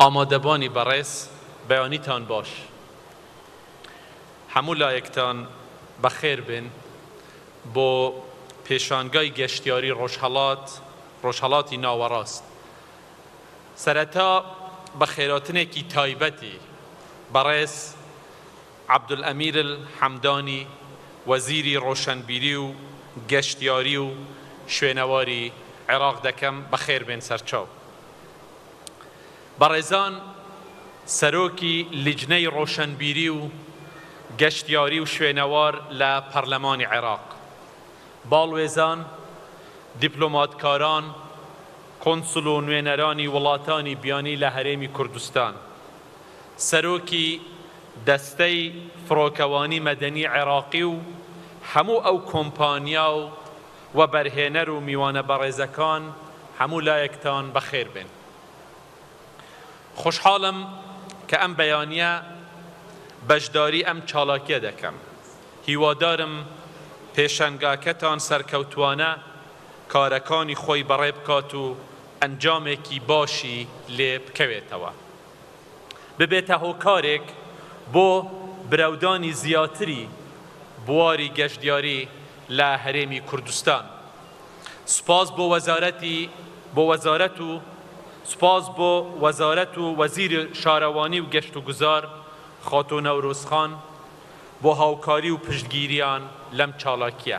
ئامادەبانی بەڕێز بەیانیتان باش هەموو لایەکتان بەخێر بێن بۆ پێشانگای گەشتیاری ڕۆژهەڵات ڕۆژهەڵاتی ناوەڕاست سەرەتا بە خێراتنێکی تایبەتی بەڕێز عەبدولئەمیر حەمدانی وەزیری ڕۆشەنبیری و گەشتیاری و شوێنەواری عێراق دەکەم بەخێربێن سەرچاو بەڕێزان سەرۆکی لیجنەی ڕۆشەنبیری و گەشتیاری و شوێنەوار لە پەرلەمانی عێراق باڵوێزان دیپلۆماتکاران کونسل و نوێنەرانی وڵاتانی بیانی لە هەرێمی کوردستان، سەرۆکی دەستەی فڕۆکەوانی مەدەنی عێراقی و هەموو ئەو کۆمپانیا و وەبەرهێنەر و میوانە بەڕێزەکان هەموو لایەکتان بەخێر بێن. خۆشحاڵم کە ئەم بەیانییە بەشداری ئەم چالاکیە دەکەم. هیوادارم پێشەنگاکەتان سەرکەوتوانە کارەکانی خۆی بەڕێ بکات و ئەنجامێکی باشی لێ بکەوێتەوە ببێتە هۆکارێک بۆ برەودانی زیاتری بواری گەشتیاری لە هەرێمی کوردستان سوپاس بۆ وەزارەتی بۆ وەزارەت و سوپاس بۆ وەزارەت و وەزیری شارەوانی و گەشتوگوزار خاتوو نەورۆز خان بۆ هاوکاری و پشتگیریان لەم چالاکیە.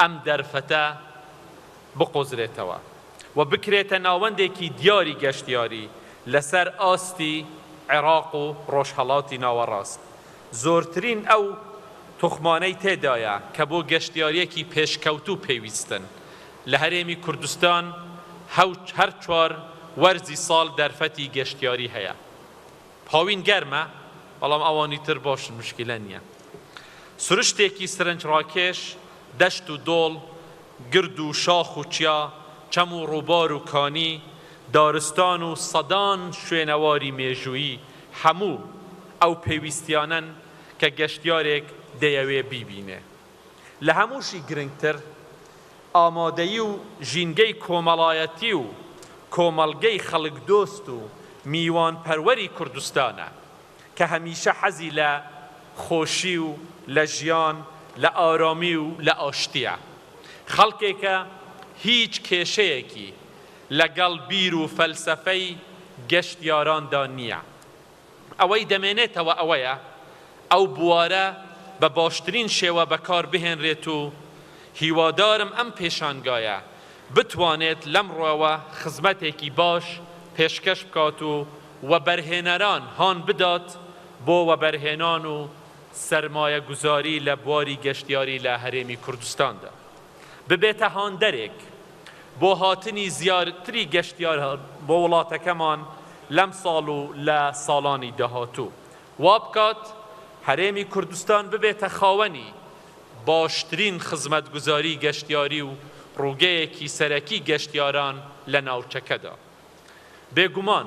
ئەم دەرفەتە بقۆزرێتەوە و بکرێتە ناوەندێکی دیاری گەشتیاری لەسەر ئاستی عێراق و ڕۆژهەڵاتی ناوەڕاست، زۆرترین ئەو توخمانەی تێدایە کە بۆ گەشتیارییەکی پێشکەوتوو پێویستن، لە هەرێمی کوردستان هەر چوار وەرزی ساڵ دەرفەتی گەشتیاری هەیە. هاوین گەرمە بەڵام ئەوانی تر باشن مشکیلە نیە. سروشتێکی سرنجڕاکێش، دەشت و دۆڵ، گرد و شاخ و چیا، چەم و ڕووبار و کانی، دارستان و سەدان شوێنەواری مێژوویی هەموو ئەو پێویستیانەن کە گەشتیارێک دەیەوێ بیبینێ. لە هەمووشی گرنگتر ئامادەیی و ژینگەی کۆمەڵایەتی و کۆمەڵگەی خەڵکدۆست و میوانپەروەری کوردستانە کە هەمیشە حەزی لە خۆشی و لە ژیان لە ئارامی و لە ئاشتیە. خەڵکێکە هیچ کێشەیەکی لەگەڵ بیر و فەلسەفەی گەشتیاراندا نیە. ئەوەی دەمێنێتەوە ئەوەیە ئەو بوارە بە باشترین شێوە بەکاربهێنرێت و هیوادارم ئەم پێشانگایە بتوانێت لەمڕۆوە خزمەتێکی باش پێشکەش بکات و وەبەرهێنەران هان بدات بۆ وەبەرهێنان و سەرمایەگوزاری لە بواری گەشتیاری لە هەرێمی کوردستاندا. ببێتە هاندەرێک بۆ هاتنی زیاتری گەشتیاران بۆ وڵاتەکەمان لەمساڵ و لە ساڵانی داهاتوو، وابکات هەرێمی کوردستان ببێتە خاوەنی باشترین خزمەتگوزاری گەشتیاری و ڕووگەیەکی سەرەکی گەشتیاران لە ناوچەکەدا. بێگومان.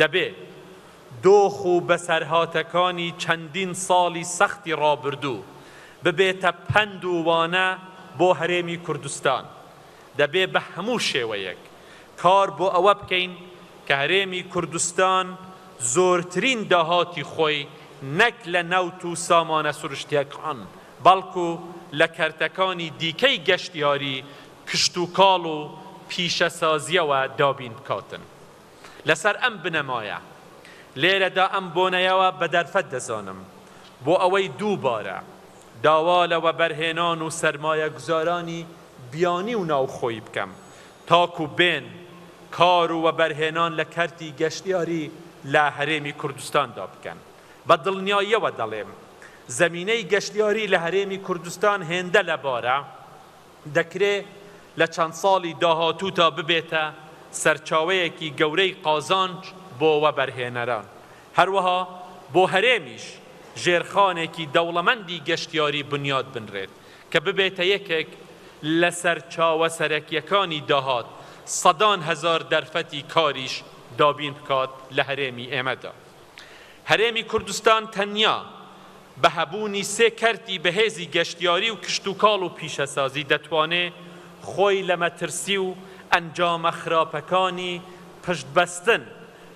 دەبێ دۆخ و بەسەرهاتەکانی چەندین ساڵی سەختی ڕابردوو ببێتە پەند و وانە بۆ هەرێمی کوردستان، دەبێ بە هەموو شێوەیەک کار بۆ ئەوە بکەین کە هەرێمی کوردستان زۆرترین داهاتی خۆی نەک لە نەوت و سامانە سروشتییەکان، بەڵکو لە کەرتەکانی دیکەی گەشتیاری، کشتوکاڵ و پیشەسازییەوە دابین بکاتن. لەسەر ئەم بنەمایە لێرەدا ئەم بۆنەیەوە بە دەرفەت دەزانم بۆ ئەوەی دووبارە داوا لە وەبەرهێنان و سەرمایەگوزارانی بیانی و ناوخۆیی بکەم تاکو بێن کار و وەبەرهێنان لە کەرتی گەشتیاری لە هەرێمی کوردستاندا بکەن. بە دڵنیاییەوە دەڵێم زەمینەی گەشتیاری لە هەرێمی کوردستان هێندە لەبارە، دەکرێ لە چەند ساڵی داهاتوودا ببێتە سەرچاوەیەکی گەورەی قازانج بۆ وەبەرهێنەران، هەروەها بۆ هەرێمیش ژێرخانێکی دەوڵەمەندی گەشتیاری بنیات بنرێت کە ببێتە یەکێک لە سەرچاوە سەرەکییەکانی داهات، سەدان هەزار دەرفەتی کاریش دابین بکات لە هەرێمی ئێمەدا. هەرێمی کوردستان تەنیا بە هەبوونی سێ کەرتی بەهێزی گەشتیاری و کشتوکاڵ و پیشەسازی دەتوانێ خۆی لە مەترسی و ئەنجامە خراپەکانی پشتبەستن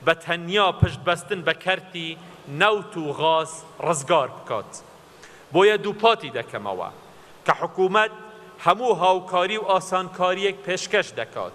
بە تەنیا پشتبەستن بە کەرتی نەوت و غاز ڕزگار بکات. بۆیە دووپاتی دەکەمەوە کە حکوومەت هەموو هاوکاری و ئاسانکارییەک پێشکەش دەکات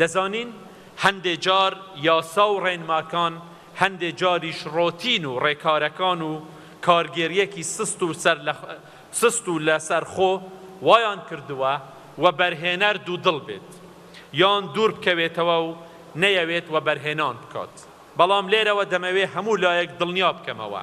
دەزانین هەندێ جار یاسا و ڕێنماکان هەندێ جاریش ڕۆتین و ڕێکارەکان و کارگێریەکی سست و سەر لە سست و لە سەر خۆ وایان کردووە وەبەرهێنەر دوودڵ بێت یان دوور بکەوێتەوە و نەیەوێت وەبەرهێنان بکات بەڵام لێرەوە دەمەوێ هەموو لایەک دڵنیا بکەمەوە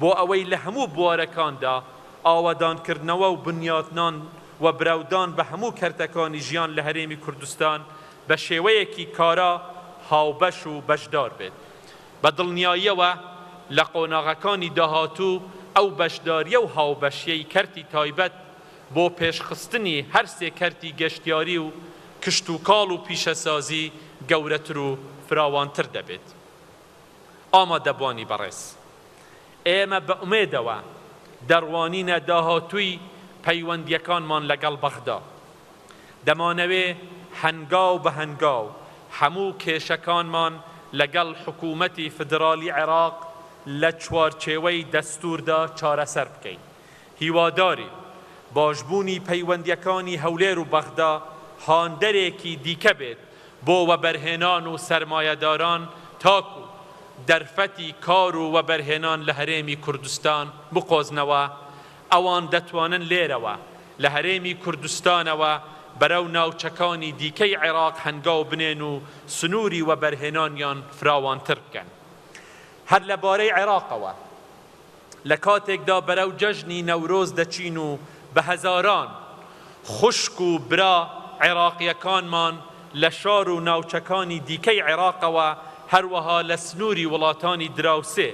بۆ ئەوەی لە هەموو بوارەکاندا ئاوەدانکردنەوە و بنیاتنان و برەودان بە هەموو کەرتەکانی ژیان لە هەرێمی کوردستان بە شێوەیەکی کارا هاوبەش و بەشدار بێت. بە دڵنیاییەوە لە قۆناغەکانی داهاتوو ئەو بەشداریی و هاوبەشییەی کەرتی تایبەت بۆ پێشخستنی هەر سێ کەرتی گەشتیاری و کشتوکاڵ و پیشەسازی گەورەتر و فراوانتر دەبێت. ئامادەبوانی بەڕێز، ئێمە بە ئومێدەوە دەڕوانینە داهاتووی پەیوەندییەکانمان لەگەڵ بەغدا. دەمانەوێ هەنگاو بە هەنگاو هەموو کێشەکانمان لەگەڵ حکوومەتی فیدراڵی عێراق لە چوارچێوەی دەستووردا چارەسەر بکەین. هیوادارین باشبوونی پەیوەندییەکانی هەولێر و بەغدا هاندەرێکی دیکە بێت بۆ وەبەرهێنان و سەرمایەداران تاکوو دەرفەتی کار و وەبەرهێنان لە هەرێمی کوردستان بقۆزنەوە، ئەوان دەتوانن لێرەوە لە هەرێمی کوردستانەوە بەرەو ناوچەکانی دیکەی عێراق هەنگاو بنێن و سنووری وەبەرهێنانیان فراوانتر بکەن. هەر لەبارەی عێراقەوە. لە کاتێکدا بەرەو جەژنی نەورۆز دەچین و بە هەزاران خوشک و برا عێراقییەکانمان لە شار و ناوچەکانی دیکەی عێراقەوە هەروەها لە سنووری وڵاتانی دراوسێ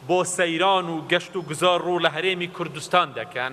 بۆ سەیران و گەشت و گوزار ڕوو لە هەرێمی کوردستان دەکەن،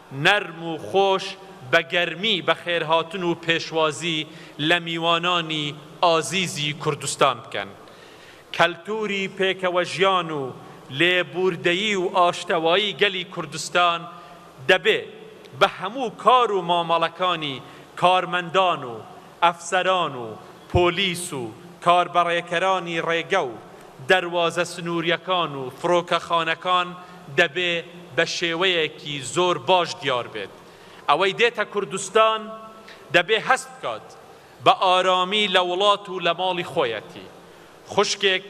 نەرم و خۆش بە گەرمی بەخێرهاتن و پێشوازی لە میوانانی ئازیزی کوردستان بکەن. کەلتووری پێکەوەژیان و لێبووردەیی و ئاشتەوایی گەلی کوردستان دەبێ بە هەموو کار و مامەڵەکانی کارمەندان و ئەفسەران و پۆلیس و کاربەڕێکەرانی ڕێگە و دەروازە سنوورییەکان و فڕۆکەخانەکان دەبێ بە شێوەیەکی زۆر باش دیار بێت. ئەوەی دێتە کوردستان دەبێ هەست بکات بە ئارامی لە وڵات و لە ماڵی خۆیەتی. خوشکێک،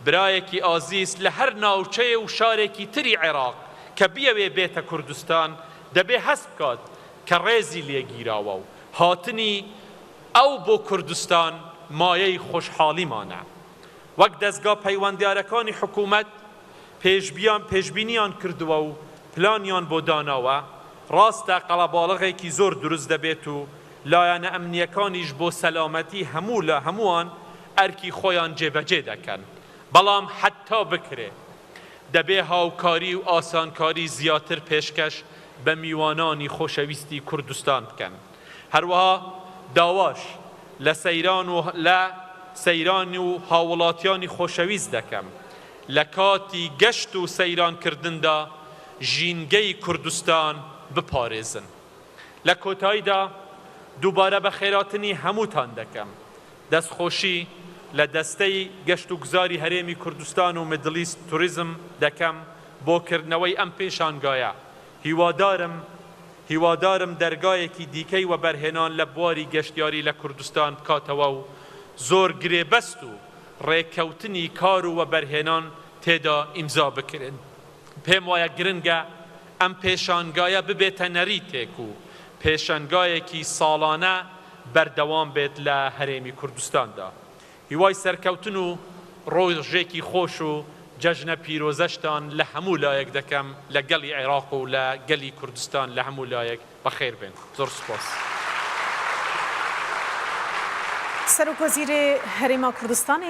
برایەکی ئازیز لە هەر ناوچەیە و شارێکی تری عێراق کە بیەوێ بێتە کوردستان دەبێ هەست بکات کە ڕێزی لێگیراوە و هاتنی ئەو بۆ کوردستان مایەی خۆشحاڵیمانە. وەک دەزگا پەیوەندیارەکانی حکوومەت پێشبیان پێشبینیان کردووە و پلانیان بۆ داناوە، ڕاستە قەڵەباڵغێکی زۆر دروست دەبێت و لایەنە ئەمنییەکانیش بۆ سەلامەتی هەموو لە هەمووان ئەرکی خۆیان جێبەجێ دەکەن، بەڵام حەتتا بکرێ. دەبێ هاوکاری و ئاسانکاری زیاتر پێشکەش بە میوانانی خۆشەویستی کوردستان بکەن. هەروەها داواش لە سەیران و لە سەیران و هاووڵاتیانی خۆشەویست دەکەم لە کاتی گەشت و سەیرانکردندا ژینگەی کوردستان بپارێزن. لە کۆتاییدا دووبارە بەخێراتنی هەمووتان دەکەم. دەستخۆشی لە دەستەی گەشتوگوزاری هەرێمی کوردستان و میدڵیست توریزم دەکەم بۆ کردنەوەی ئەم پێشانگایە، هیوادارم هیوادارم دەرگایەکی دیکەی وەبەرهێنان لە بواری گەشتیاری لە کوردستان بکاتەوە و زۆر گرێبەست و ڕێککەوتنی کار و وەبەرهێنان تێدا ئیمزا بکرێن. پێم وایە گرنگە ئەم پێشانگایە ببێتە نەریتێک و پێشەنگایەکی ساڵانە، بەردەوام بێت لە هەرێمی کوردستاندا هیوای سەرکەوتن و ڕۆژێکی خۆش و جەژنە پیرۆزەشتان لە هەموو لایەک دەکەم لە گەڵی عێراق و لە گەلی کوردستان لە هەموو لایەک بەخێر بێن زۆر سوپاس. سەرۆک وەزیرێ هەرێما کوردستانێ.